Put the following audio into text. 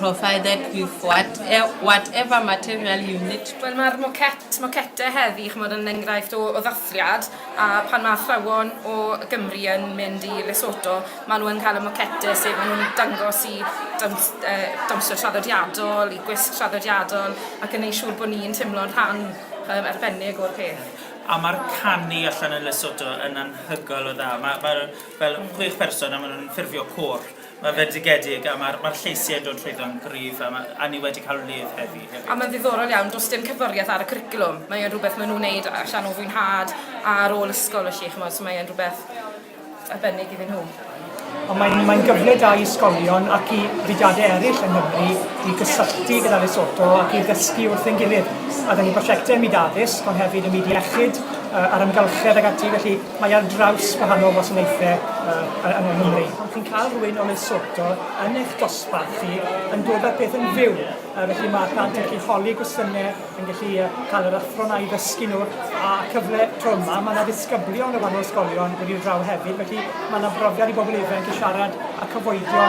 provided with what, e, whatever material you need. Wel, mae'r moquet, moquette heddi, chymod, yn enghraifft o, o ddathliad, a pan mae athrawon o Gymru yn mynd i Lesotho, maen nhw'n cael y moquette, sef maen nhw'n dangos i dawns, uh, dawnsio traddodiadol, i gwisg traddodiadol, ac yn ei siŵr bod ni'n teimlo'n rhan um, arbennig o'r peth. A mae'r canu allan yn Lesotho yn anhygoel o dda. Mae, mae fel chwech person a maen nhw'n ffurfio cwr Mae'n fendigedig a mae'r mae lleisiau yn dod trwyddo'n gryf a, ma, a ni wedi cael lif heddi hefyd. A mae'n ddiddorol iawn, does dim cyfwriaeth ar y cwricwlwm. Mae e'n rhywbeth maen nhw'n wneud allan o fwynhad ar ôl ysgol felly, chymod, so mae e'n rhywbeth arbennig iddyn nhw. Ond mae'n mae gyfle da i ysgolion ac i fudiadau eraill yng Nghymru i gysylltu gyda Lesotho ac i ddysgu wrth ein gilydd. A da ni'n prosiectau ym myd addysg, ond hefyd ym myd iechyd, uh, a'r amgylchedd ag ati, felly Mae ar draws gwahanol wasanaethau yy yng Nghymru. Pan chi'n cael rhywun o Lesotho yn eich dosbarth chi, yn dod â'r peth yn fyw, yy felly mae plant yn gallu holi gwestiynau, yn gallu yy cael yr athro 'na i ddysgu nhw, a cyfle tro yma, mae 'na ddisgyblion o wahanol ysgolion wedi dod draw hefyd, felly mae 'na brofiad i bobl ifanc i siarad â cyfoedion.